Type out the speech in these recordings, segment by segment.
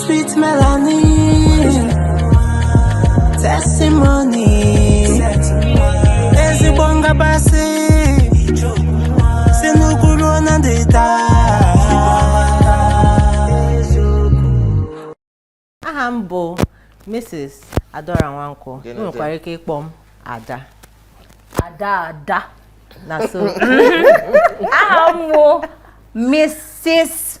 Sweet melody, testimony, ezigbo ngabasị, si n'ugwu ruo na ndịda. aha m bụ mrs adaora nwankwọ ị nwekwara ike ịkpọ m ada ada ada na so aha m bụ mrs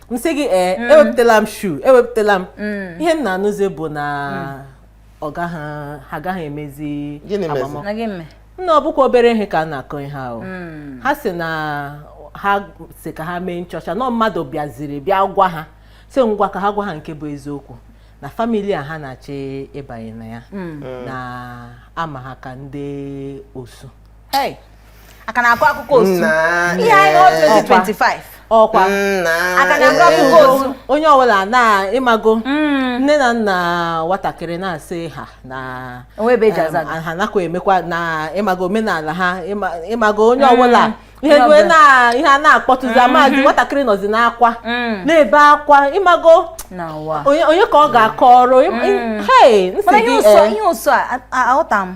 m sị gị ee mm. ewepụtala m issue ewepụtala m mm. ihe m na-anụzi bụ na mm. ọ gaghị ha agaghị emezi agbamakwụkwọ nna ọ bụkwa obere ihe ka a na-akọ ihe ahụ ha sị na ha sị ka ha mee nchọcha na mmadụ bịaziri bịa gwa ha sị ngwa ka ha gwa ha nke bụ eziokwu na family a ha na-achọ ịbanye na ya na a ma ha ka ndị osu Hey, a ka na-akọ akụkọ osu Nna. ihe anyị na ọjọọ Ọkwa. 25 ọkwa Nna. A ka na-akọ akụkọ osu onye ọbụla na ịmago nne na nna nwatakịrị na-asị ha na O nwe ebe e ji em, aza gị. ha nakwa emekwa na ịmago omenala ha ịma- ịmago onye ọbụla ihe Onye rue ọbụla. na ihe a na-akpọtụzi amazi nwatakịrị nọzi n'akwa Mm. na-ebe akwa ịmago na ụwa onye onye ka ọ ga-akọrọ Im- im- hey m sị mana ihe gị ụsọ eh, ihe ụsọ a a- aghọta m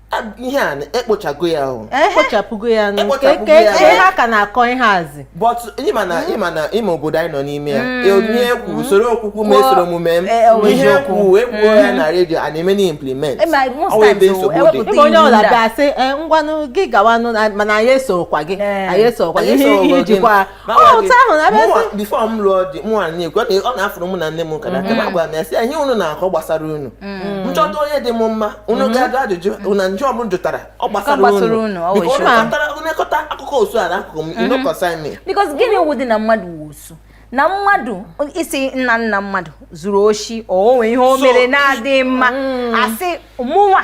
ihe a ekpochago ya ahụ ekpochapụgo ya nụ ka ihe ha ka na-akọ ihe azi but ịma na ịma na ịma obodo anyị nọ n'ime ya hmm. e, ihe ekwu usoro okwukwu ma esoro omume m e, e, ihe ekwu ekwuo ya hmm. na redio a na-eme na implement ọwa ebe nsogbu dị ebe onye ọwụla bịa sị ngwanụ gị gawanụ mana anyị esorokwa gị anyị esorokwa gị ihe ijikwa before m lụọ di mụ a na-ekwu ọ na-afụrụ mụ na nne m ka na aka agwa m ya sị ihe unu na-akọ gbasara unu mm. m chọta onye dị m mma unu mm-hmm. ga-ajụ ajụjụ mm-hmm. na njụ ọbụ jụtara ọ gbasara unu nekọta akụkọ osu a n'akụkụ m inokọsa mm-hmm. ime because gịnị wụdị na mmadụ wụ osu na mmadụ ị sị nna nna mmadụ zuru oshi o nwee ihe o mere na-adịghị mma mm. a sị mụnwa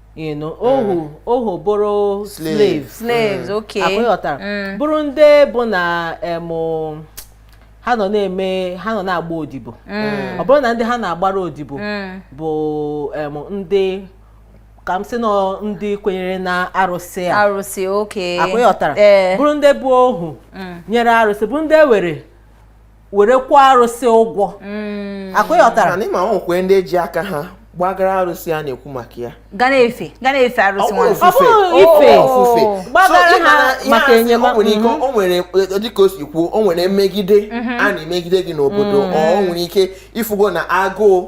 you know ohu mm. ohu bụrụ slave slaves mm. okay ọkwa ịghọtara mm. bụrụ ndị bụ na em ha nọ na-eme ha nọ na-agba odibo ọ bụrụ na ndị ha na-agbara odibo bụ em ndị ka m sị na ndị kwenyere na arụsị a arụsị okay ọkwa ịghọtara eh. bụrụ ndị bụ ohu nyere arụsị bụrụ ndị e were were kwụọ arụsị ụgwọ mm. ọkwa ịghọtara na ịma nwekwee ndị ji aka ha gbagara arụsị a na-ekwu maka ya ga na-efe ga na-efe arụsị nwa ọ bụrụ ife ofufe gbagara ha maka enyemaka o nwere ike mm-hmm. o nwere e, dịka o si kwuo o nwere mmegide mm-hmm. a na-emegide gị n'obodo mm. ọ nwere ike ịfụgo na agụụ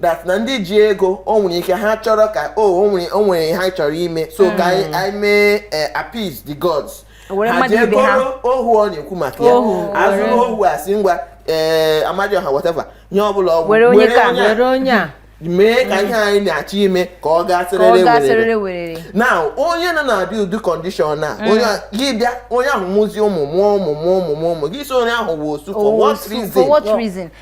that na ndị ji ego o nwere ike ha chọrọ ka o oh, o nwere ha chọrọ ime so ka anyị hmm. mee eh, appease the gods ha ji ego ohu ọ na-ekwu maka ya azụrụ ohu a sị ngwa ee eh, Amadịọha whatever ihe ọbụla ọ wụ were onye a mee ka ihe anyị na-achọ ime ka ọ gaa siriri werere na onye nọ na adị ụdị condition na mm. gị bịa onye ahụ mụzi ụmụ mụọ ụmụ mụọ ụmụ mụọ ụmụ gị sị onye ahụ wụ osu for what reason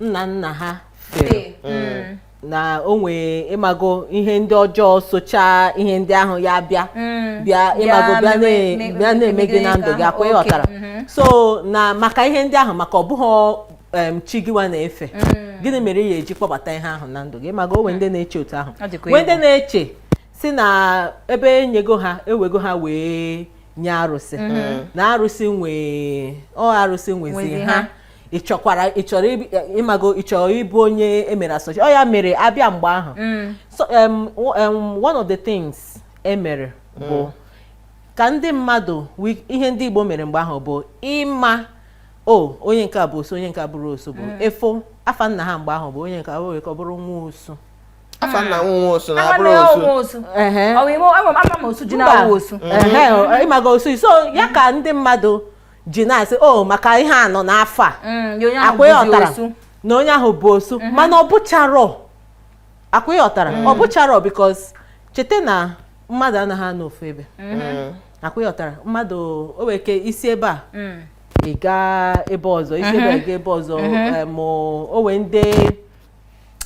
nna nna ha fere mm. na o nwee ịmago ihe ndị ọjọọ socha ihe ndị ahụ ya bịa mm. bịa ịmago bịa na-eme gị na ndụ gị akwa ịghọtara mm-hmm. so na maka ihe ndị ahụ maka ọ bụghị chi gịwa na-efe mm. gịnị mere ị ya eji kpọbata ihe ahụ na ndụ gị ịmago o nwee ndị na-eche otu ahụ nwee ndị na-eche sị na ebe e nyego ha e wego ha wee nye arụsị mm-hmm. na arụsị nwe ọ arụsị nwezi ha ị chọkwara ị chọrọ ibi- eh, ịmago ị chọrọ ịbụ onye emere asọchi ọ ya mere abịa mgbe ahụ so em, w- em, one of the things emere bụ ka ndị mmadụ wi- ihe ndị Igbo mere mgbe ahụ bụ ịma o onye nke a bụ osu onye nke a bụrụ osu bụ e foo afa nna ha mgbe ahụ bụ onye nke a were ka ọ bụrụ nwa osu afa nna nwa osu na abụrụ Ama osu ọ nwa osu. Ehe. Ọ bụ ime- ama m- ama m Osuji Mba. na-awụ osu. Ehe, ọ- ịmago osu so ya ka ndị mmadụ ji na-asị o oh, maka ihe a nụ n'afa mm, akwa ịghọtara na onye ahụ bụ osu mhm. mana ọ bụcharọ akwa ịghọtara ọ mm. bụcharọ because cheta na mmadụ anaghị anọ ofu ebe mhm. mm. akwa ịghọtara mmadụ o nwere ike isi ebe a ị gaa ebe ọzọ isi ebe mhm. gaa ebe ọzọ ma o nwee ndị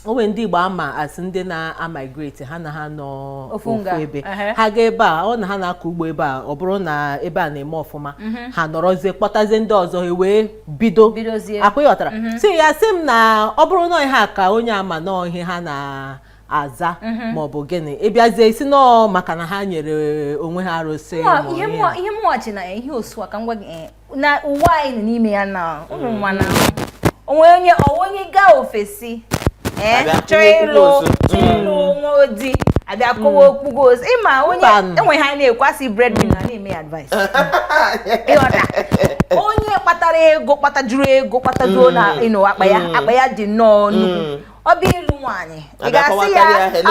o nwere ndị Igbo ama asị ndị na-amigrate ha anaha anọ ofu ebe ha gaa ebe a ọ na ha na-akọ ugbo ebe a ọ bụrụ na ebe a na-eme ọfụma mhm. ha nọrọzie kpọtazie ndị ọzọ e wee bido akwa ịghọtara mhm. so a sị m na ọ bụrụ na ihe a ka onye a ma na ọ ihe ha na-aza mhm. ma ọ bụ gịnị ịbịazie ịsị na ọ maka na ha nyere onwe ha arụsị ihe mụọchi na ihe osu a ka m gwa gị eh, na ụwa anyị nọ n'ime ya na ụmụ mm. nwa na o nwee onye ọ wụ onye gaa ofesi eh, chọọ ịlụ ịlụ mm. nwa odi abịa kọwa okwu gị ozi ịma onye enwe ha na-ekwu a sị breadwinner mm. na-eme advice ịghọta onye kpatara ego kpatajuru ego kpatajuo na ịnụ akpa ya akpa ya dị nnọọ nnukwu ọ bụ ịlụ nwaanyị ị ga-asị ya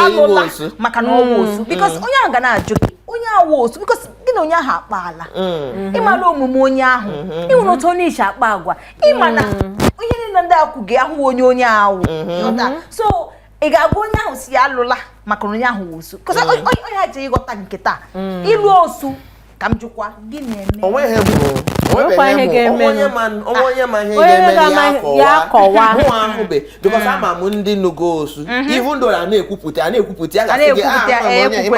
alụla maka na ọ wụ osu mm. because mm. onye ahụ ga na-ajụ gị onye wụ osu because gị na onye ahụ akpaala mm-hmm. ịmara omume onye ahụ mm-hmm. ịnwere otu onye si akpa agwa ịma na mm. onye niile ndị akwụ gị ahụ onye onye ahụ mm-hmm. so ị ga-agwa onye ahụ sị ya alụla maka na onye ahụ wụ osu because onye ha ji ịghọta nke taa ịlụ osu ka m jụkwa gị na-eme onweghị bụ onye ma ihe ga-eme ya aka mụwa ahụbe bikọs ama m ndị nụgo osu mhm. even though a na-ekwupụta a na-ekwupụta ya a ga-asị gị ah, ịma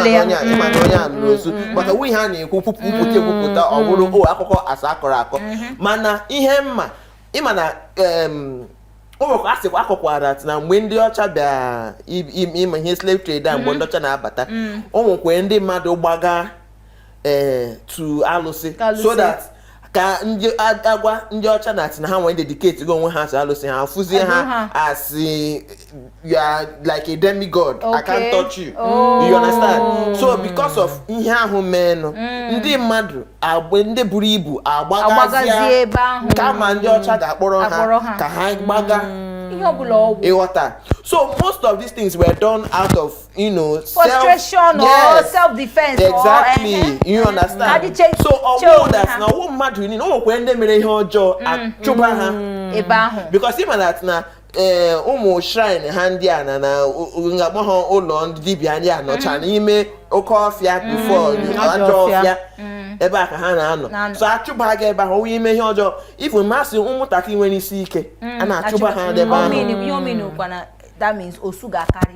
na onye a nụrụ osu mhm. maka o nwe ihe a na-ekwu kwupụta ekwupụta ọ mhm. bụrụ o oh, akụkọ a sị akọrọ akọ mana ihe m ma ịma na o nwekwa a sịkwa akọkwara na mgbe ndị ọcha bịa ịma ihe slave trade a mgbe ndị ọcha na-abata o nwekwa ndị mmadụ gbaga ee eh, to alụsị so that ka a gwa ndị ọcha na-asị na hanwa dedicatego onwe ha to alụsị ha fụzie ha asị you are like a demigod okay. I can't touch you oh. you understand so because of ihe ahụ meenụ mm. ndị mmadụ agbe ndị buru ibu agbagazie kama ndị ọcha ga-akpọrọ ha ka ha gbaga mm. ịghọta so most of these things were done out of you know frustration or self defense exactly eh, eh, you eh, understand so ọ wụ that na ọ wụ mmadụ niile o nwekwa ndị mere ihe ọjọọ mm, achụba ha mm. ebe ahụ because ịma that na ụmụ shrine ha ndị a na na m ga-akpọ ha ụlọ ndị dibịa ndị a nọcha mm. n'ime oke ọfịa before ajọ ọfịa ebe ahụ ka ha na-anọ so achụba gị ebe ahụ once i mee ihe ọjọọ even asị ụmụntakịrị nwere isi ike a na-achụba ha ebe ahụ that means osu ga-akarị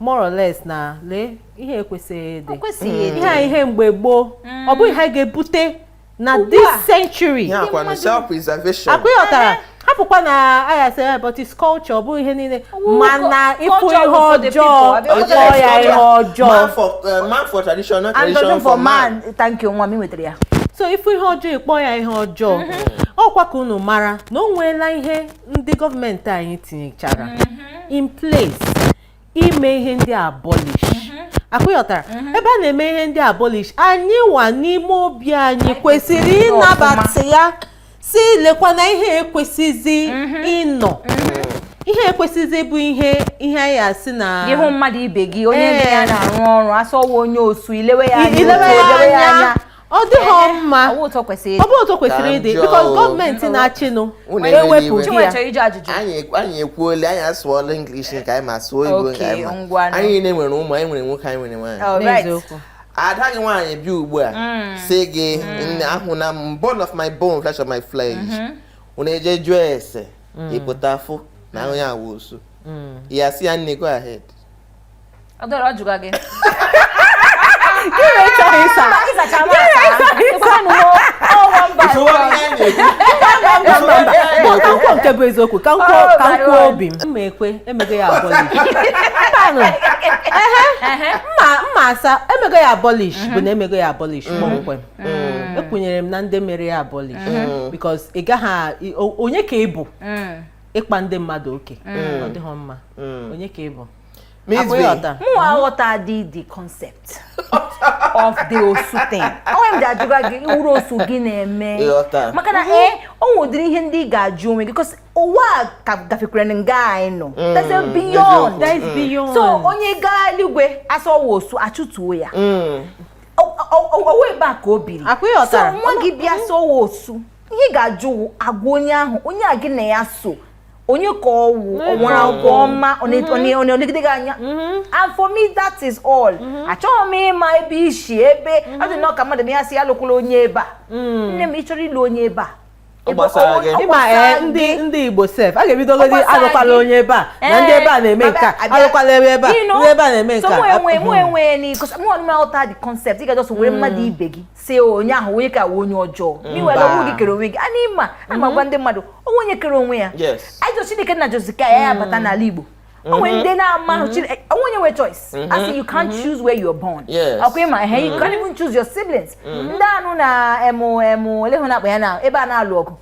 more or less na ihe a ekwesịghị ịdị hmm. ihe a ihe mgbe gboo hmm. ọ bụghị ihe a ga-ebute na this century ọkwa ịghọtara eh. hapụkwa na a ya-asị eh, but it's culture ọ bụghị ihe niile mana ịfụ ihe ọjọọ kpọọ ya ihe ọjọọ man for eh, tradition not tradition for man thank you nwa m nwetara ya so ịfụ ihe ọjọọ ịkpọ ya ihe ọjọọ mm-hmm. ọkwa ka unu mara na o nweela ihe ndị gọọmenti anyị tinyechara mm-hmm. in place ime ihe ndị a abolish mm-hmm. ọkwa ịghọtara mm-hmm. ebe a na-eme ihe ndị a abolish anyị nwa n'ime obi anyị kwesịrị ịnabata ya sị lekwa na ihe a ekwesịzi ịnọ ihe a ekwesịzi bụ ihe ihe anyị ya-asị na ịhụ mmadụ ibe gị onye eh. na-arụ ọrụ asị ọ wụ onye osu i lewe ya anya ọ dịghị mma ọ bụ otu o kwesịrị ịdị bikos gọọmenti na-achịnụ ewepụgo ya anyị ekwuole anyị asụọla English nke anyị ma sụọ Igbo nke anyị ma anyị nwa nwere ụmụ anyị nwere nwoke anyị nwere nwaanyị ada gị nwaanyị bịa ugbu a mm. sị gị mm. ahụna bone of my bone flesh of my flesh mm-hmm. unu ejee jụọ ese mm. ị pụta fụ na onye a wụ osu ị ya-asị ya nne go ahead ọ dọrọ ọ jụga gị Gịnị chọrọ ịsa? Mba, ịzacha m asa. Ekwenụ m, ọ wụ mba. Ịsụwa ihe anyị na-ekwu. Mba, mba, mba. Mba, ka m kwuo nke bụ eziokwu ka m kwuo Oh, ka m kwuo Marion. obi m mma ekwe e mego ya abolish mbanụ ehe Ehe. mma mma asa e mego ya abolish bụ na e mego ya abolish kpọmkwem ekwunyere m na ndị mere ya abolish because ị gaghị a- i- o- onye ka ị bụ Mm. ịkpa ndị mmadụ oke mm. ọ dịghị mma mm. onye ka ị bụ mụ aghọta dị the concept of the osu thing onwe m ga-ajụga gị ị wụrụ osu gị na-eme maka na ee eh, o nwedịrị ihe ndị ị ga-ajụ onwe gị because ụwa agafekwara nga anyị nọ mm, that's beyond that's beyond so onye gaa eluigwe a sị ọ wụ osu a chụtuo ya ụwa ebe a ka o biri so nwa gị bịa sị ọ wụ osu ihe ị ga-ajụ agwa onye ahụ onye a gị na ya so onye ka ọ wụ o nwere agwa ọma ọ mm-hmm. na-elegide gị anya mm-hmm. and for me that is all mm-hmm. achọghị m ịma ebe i si ebe ọ dị nnọọ ka mmadụ na ya sị ya alụkwala onye ebe a mm. nne m ị chọrọ ịlụ onye ebe a ị ma eh, ndị ndị igbo sef a ga-ebidogodi alụkwala onye ebe a na eh, ndị ebe a na-eme nke a alụkwala ebe ebe a ndị ebe a na-eme nke a mụ enwe mụ enwe because mụ anaghị m aghọta the concept ị ga just were mmadụ mm. ibe gị sị onye ahụ onye ka ọ wụ onye ọjọọ na i were onwe gị kere onwe gị ana m agwa ndị mmadụ o nwe onye kere onwe ya ajọ chineke na ajọzi ka ya ya mm. bata n'ala igbo o nwe mm-hmm. ndị na-ama mm-hmm. chineke o nwe onye nwere choice mm-hmm. a sị you can't choose where you're born ọkwa ị ma ihe you can't even choose your siblings ndị anụ na emu emu ole hụ na akpa ya na ebe a na-alụ ọgụ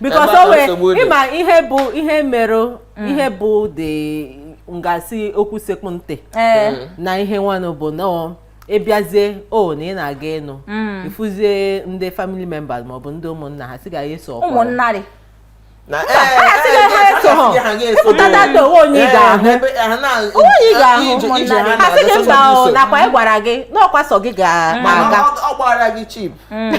because Ebe a o nwere nsogbu dị. ị ma ihe bụ ihe mere ihe bụ dị ngasị okwu sekpụ ntị ee na ihe nwanụ bụ na ọ ị bịazie o na ị na-aga ịnụ ị fụzie ndị family members maọbụ ndị ụmụnna ha sị ga ya eso ọkwa ụmụnnarị na ịpụtata na o nwe onye ị ga-ahụ onye ị ga-ahụ ụmụnnarị ha sị gị mba o nakwa ị gwara gị na ọkwa sọ gị ga-aga ọ gbara gị cheap Hmm.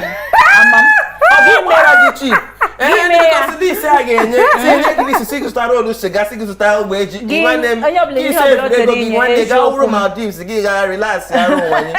list a ga-enye tinye gị n'isi sị gị zụta roll cigar sị gị zụta ogbe ji nwanne m ise eburu ego gị nwanne gaa wụrụ Maldives gị gaa relax arụ nwanne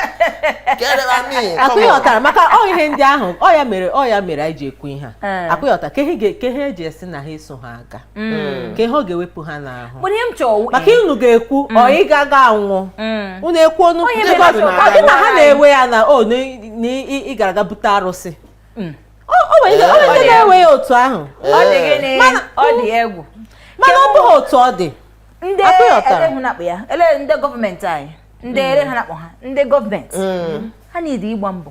ọkwa ị ghọtara maka ọ ihe ndị ahụ ọ ya mere ọ ya mere anyị ji ekwu ihe a ọkwa ị ghọta ka ihe eji esi na ha eso ha aga Mm. ka ihe ọ ga-ewepụ ha n'ahụ Mana ihe m chọrọ maka unu ga-ekwu ọ ị ga-aga anwụ Mm. unu ekwu ọnụ O nwe ndị mere mmadụ osu, na-aga. ọ dị na ha na-ewe ya na o na ị- na ị ị gara aga bute arụsị Mm. o o nwere ike- o nwere ndị Ee. na-ewe ya otu ahụ ọ dị gịnị Mana- ọ dị egwu mana ọ bụghị otu ọ dị ndị Akpụ ya ọtara. ele hụ na-akpụ ya ele ndị gọọmenti anyị ndị ele ha na-akpụ ha ndị gọọmenti ha niile ịgba mbọ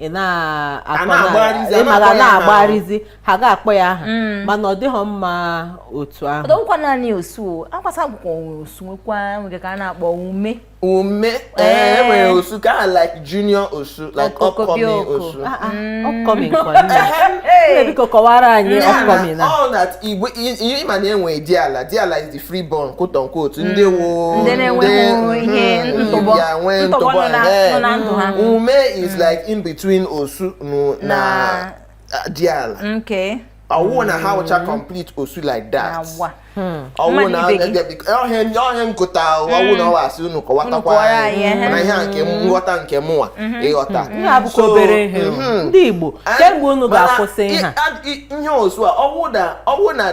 ị na-akpọla na-agbagharịzi ha ga-akpọ ya aha mm. mana ọ dịghị mma otu ahụ ọdọkwa naanị osu akwasa akụkọ osu nwekwa nwere nke a na-akpọ ume ume ee eh, eh. nwere osu ka a like junior osu like upcoming osu ah, ah, mm. upcoming biko kọwara anyị upcoming na ọ na igbo ị ma na e nwe diala diala is the freeborn quote unquote mm. ndị wụ ndị nwee ntụbọ ume is mm. like in between osu na diala ọ wụ na ha wụcha mm. complete osu like that hmm. ọ wụ na ọhịa nkụta ọ wụ na ọ wụ asị unu kọwatakwa anyị mana ihe a wụ nghọta nke mụnwa mm-hmm. ị ghọta mm-hmm. ndị Igbo kee mgbe unu ga-akwụsị ihe osu a ọ wụ na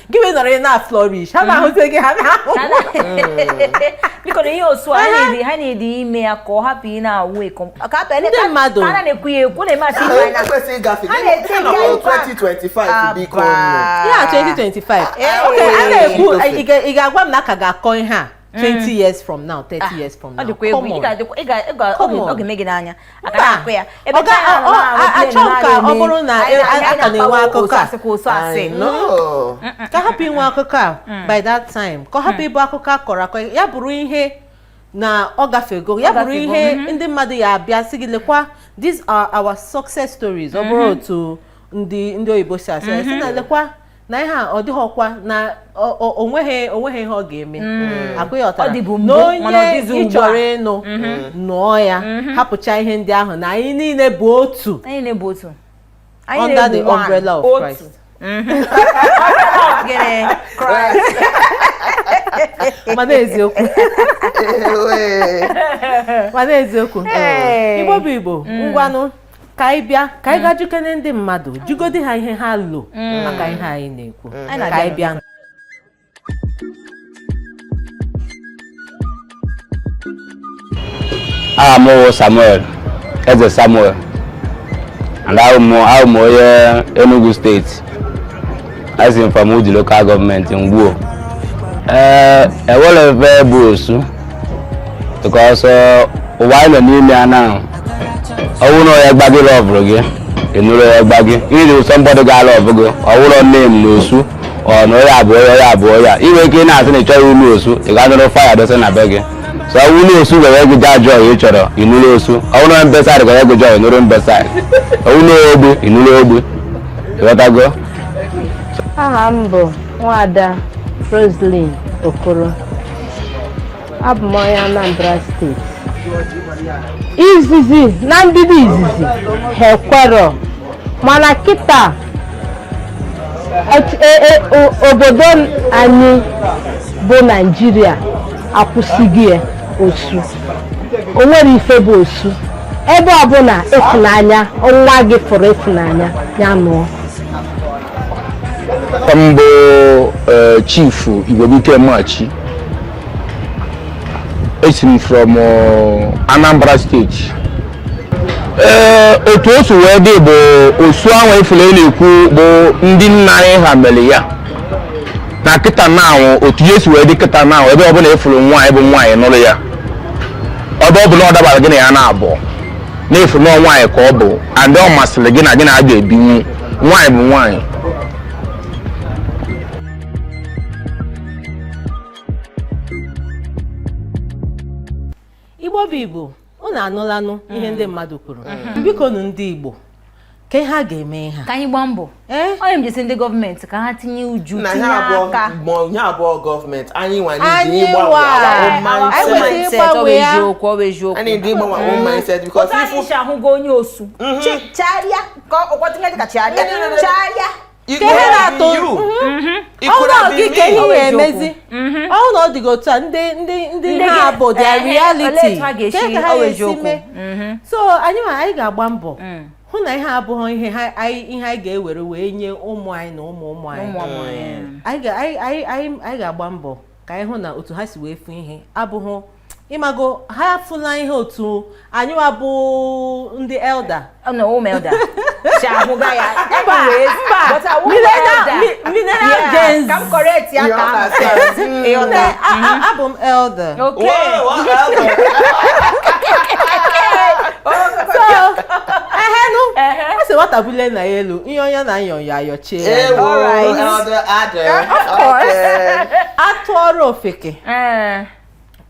gị wee nọrọ ị na-flourish ha na-ahụzi gị ha na-ahụ biko na ihe otu a ha na-edi ime ya ka ọ hapụ ị na-awụ eko ndị mmadụ ha na-ekwu ya ekwu na-eme asị ime anya ha na-ete ya 2025 biko ya 2025 a na-ekwu ị ga-agwa m na a ka ga-akọ ihe a 20 mm. years from now 30 ah, years from now come on ọ ga-eme gị n'anya achọghị m ka ọ bụrụ na e, a ka na-enwe akụkọ a ka a hapụ inwe akụkọ a mm. by that time ka ọ hapụ mm. ịbụ akụkọ a kọrọ akọ ya bụrụ ihe na ọ gafego ya bụrụ ihe mm-hmm. ndị mmadụ ya-abịa sị gị lekwa these are our success stories ọ bụrụ mm-hmm. otu ndị ndị oyibo si asị na mm-hmm. lekwa na ihe a ọ dịghọkwa na ọ- ọ- o nweghị o nweghị ihe ọ ga-eme akụghọtara Ọ dịbu mbụ, na mana ọ onye dịzi ị ugbu a. chọrọ ịnụ nụọ ya hapụcha ihe ndị ahụ na anyị niile bụ otu anyị niile bụ otu anyị under the niile bụ one. umbrella of Otu. Christ Gịnị? mana eziokwu Ewe. mana eziokwu Hey. igbo bụ igbo ngwanụ ka anyị bịa ka anyị gaa jụkene ndị mmadụ jụgodi ha ihe ha lo maka ihe anyị na-ekwu Anyị ka anyị bịa aha m wụ samuel eze samuel and awụ m awụ m onye enugu state Esi m from Udi local government Ngwo. Ee, eh, enwerọ ihe bụ osu because eh, ụwa anyị nọ n'ime ya na ọ wụ na onye gba gị lọvụrụ gị ị nụrụ onye gba gị iri ụsọ somebody ga-alọvụ gị ọ wụrọ nne m na osu ọ na onye abụọ ya onye abụọ ya i nwee ike ị na-asị na ị chọghị ịlụ osu ị ga nụrụ fire dosa na be gị so ọ wụ na osu ga-enye gị joy ị chọrọ ịnụrụ osu ọ wụ na mbesaịdị ga-enye gị joy ị nụrụ mbesaịdị ọ wụ na ogbe ị nụrụ ogbe ị ghọtago aha m bụ nwada Roselyn Okoro abụ m onye Anambra State izizi na mbido izizi ha ekwerọ mana kịta et- e- e- o- obodo anyị bụ naijiria akwụsịgo ya osu o nwerọ ife bụ osu ebe ọbụla ịfụnanya nwa gị fụrụ ịfụnanya ya nụọ ọ m bụ eh, Chief Igwebike Machi esi m from eh, Anambra State ee eh, otu o si wee dị bụ osu ahụ ị fụlụ a na-ekwu bụ ndị nna anyị ha mere ya na kịta na anwụ otu ihe si wee dị kịta na anwụ ebe ọbụla ị fụrụ nwaanyị bụ nwaanyị nụrụ ya ebe ọbụla ọ dabara gị na ya na-abụ na ị fụrụ nwaanyị ka ọ bụ and ọ masịrị gị na gị na ya ga-ebinwu nwaanyị bụ nwaanyị igbo bụ igbo unu anụlanụ ihe mm. ndị mmadụ kwuru mm-hmm. biko nụ ndị Igbo kee ihe a ga-eme ha ka anyị gbaa mbọ eh? onye m jesi ndị gọọmenti ka ha tinye uju tinye aka ihe a abụrọ gọọmenti anyị nwa anyị gbanwee mindset because ahụgo onye osu mm-hmm. chegharịa ka ọkpọtinye dịka chegharịa chegharịa It Ka ihe could have na-atụ- been you. Mhm. It could ọnwa have gị been ka me. ihe ya emezi Mhm. ọ hụ na ọ dịghị otu a ndị ndị ndị Ndị ha gị- bụ their ehe, olee reality etu ha ga-esi Ka ka ha ọwa ga-esi eziokwu? mee? Mhm. so anyị ma anyị ga-agba mbọ Mm. hụ na ihe a abụghị ihe ha- anyị ihe anyị ga-ewere wee nye ụmụ anyị na ụmụ ụmụ anyị Ụmụ ọmụ ya. anyị ga- anyị- anyị- anyị- anyị ga-agba mbọ ka anyị hụ na otu ha si wee fụ ihe abụghị ịmago ha afụla ihe otu anyị bụ ndị elder na ụmụ elder si ahụga ya mba millennial gens ka m correct ya ka abụ m elder a sị nwata bulie nna ya elu ihe onye na-ayọ ayọ ayọchie ya atụọrọ ofeke eh.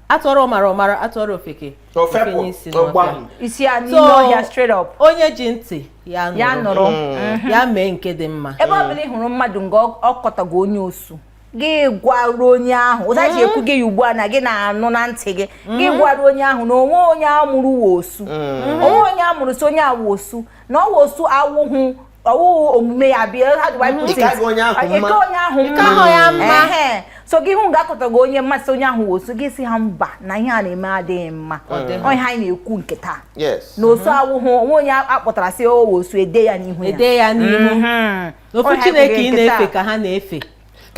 atụọrọ ọmara ọ mara atụọrọ ofeke o fenye isi n'ọfịa isi a n'ime ọhịa straight up onye ji ntị ya ya nụrụ mm. ya mee nke dị mma ebe ọ bụla ị hụrụ mmadụ na ọ kọtago onye osu gị gwaru onye ahụ otu a ji ekwu gị ya ugbu a na gị na-anụ na ntị gị gị mm. gwaru onye ahụ na o nweghị onye a mụrụ wụ osu mm. o nweghị onye a mụrụ sị onye a wụ osu na ọ wụ osu awụhụ ọ wụ omume ya bịa ha dị wipụ Ike agụ onye ahụ mma. ike onye ahụ Ike mma ahụ ya mma. Ehe. so gị hụ ga-akọta gị onye mmasị onye ahụ wụ osu gị sị ha mba na ihe a na-eme adịghị mma Ọ dị. ihe anyị na-ekwu nke taa yes na osu awụhụ o nwe onye a kpọtara sị ọ wụ osu e de ya n'ihu ya e de ya n'ihu Mhm. n'ofu Onye ha chineke ị ekweghị nke na-efe taa. ka ha na-efe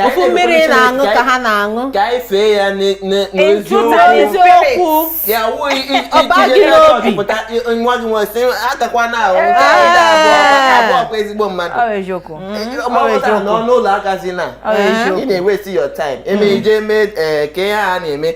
ofu mmiri ị na-aṅụ ka ha na-aṅụ ka anyị fee ya n'eziokwu ya wụghị iji n'obi nwa gị nwa sị atakwa na ahụ abụọkwa ezigbo mmadụ nọ n'ụlọ agazina ị na-awaste your time eme ije mee ka ihe a na-eme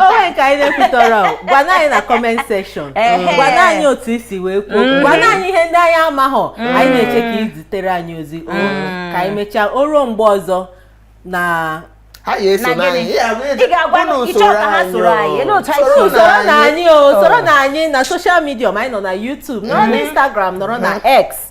o nwee nke anyị na-ekwuterọ gwanụ anyị na comment section gwanụ anyị otu i si wee kwuo mm. gwanụ anyị ihe ndị anyị amahọ mm. anyị na-eche ka ị zitere anyị ozi mm. ka anyị mechaa o ruo mgbe ọzọ na ha ga-eso n'anyị ị ga-agwa na ị chọ ka ha soro anyị soronụ anyị o soronụ anyị na social media ma anyị nọ na YouTube nọrọ na Instagram nọrọ na X